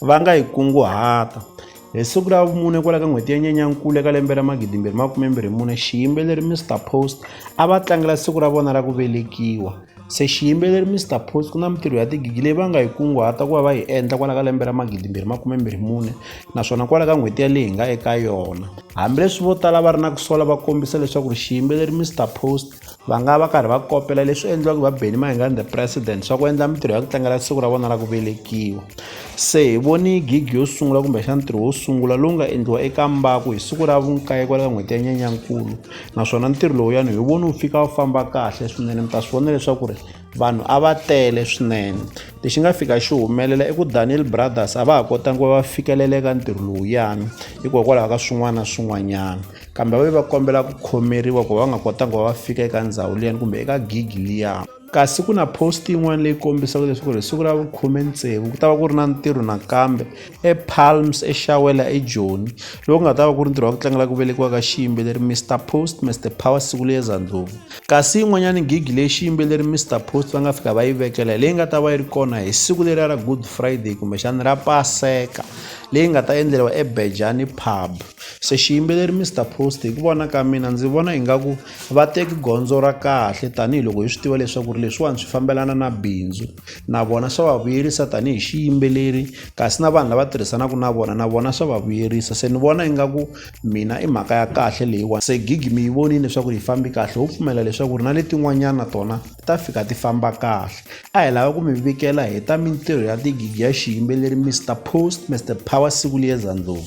va nga yi kunguhata hi siku ra vumune kwala ka n'hweti ya nyenyankulu eka lembe ra magidimbirhi makumembirhi mune xiyimbeleri mr post a va tlangela siku ra vona ra ku velekiwa se xiyimbeleri mr post ku na mintirho ya tigigi leyi va nga yi kunguhata ku va va yi endla kwala ka lembe ra magidimbirhi makumembirhi mune naswona kwala ka n'hweti yaleyi hi nga eka yona hambileswi vo tala va ri na ku sola va kombisa leswaku ri xiyimbeleri mr post Va nga va karhi va kopela leswi endliwaka va Benny Mayengani the president swa ku endla mintirho ya ku tlangela siku ra vona ra ku velekiwa se hi voni gigi yo sungula kumbexana ntirho wo sungula lowu nga endliwa eka mbaku hi siku ra vunkaye kwala ka n'hweti ya nyenyankulu naswona ntirho lowuyani hi voni wu fika wu famba kahle swinene mi ta swi vona leswaku ri vanhu a va tele swinene lexi nga fika xi humelela i ku daniel brothers a va ha kotangi va va fikeleleka ntirho lowuyani hikokwalaho ka swin'wana na swin'wanyana Kambe va ve va kombela ku khomeriwa ku va va nga kotanga ku va va fika eka ndzhawu liyani kumbe eka gigi liya. Kasi ku na post yin'wana leyi kombisaka leswaku ri hi siku ra vukhume tsevu ku ta va ku ri na ntirho nakambe ePalms eXawela eJoni lowu nga ta va ku ri ntirho wa ku tlangela ku velekiwa ka xiyimbeleri Mister Post Mister Power siku liya Zandlovu. Kasi yin'wanyana gigi leyi xiyimbeleri Mister Post va nga fika va yi vekela hi leyi nga ta va yi ri kona hi siku leriya ra Good Friday kumbexana ra Paseka leyi nga ta endleriwa eBejani Pub. Se xiyimbeleri Mister Post hi ku vona ka mina ndzi vona ingaku va teki gondzo ra kahle tanihiloko hi swi tiva leswaku ri leswiwani swi fambelana na bindzu na vona swa va vuyerisa tanihi xiyimbeleri kasi na vanhu lava tirhisanaka na vona na vona swa va vuyerisa se ni vona ingaku mina i mhaka ya kahle leyiwani se gig mi yi vonile leswaku yi fambi kahle ho pfumela leswaku ri na letin'wanyana tona ti ta fika ti famba kahle a hi lava ku mi vikela hi ta mintirho ya tigigi ya xiyimbeleri Mister Post Mister Power Sikuliyeza Ndlovu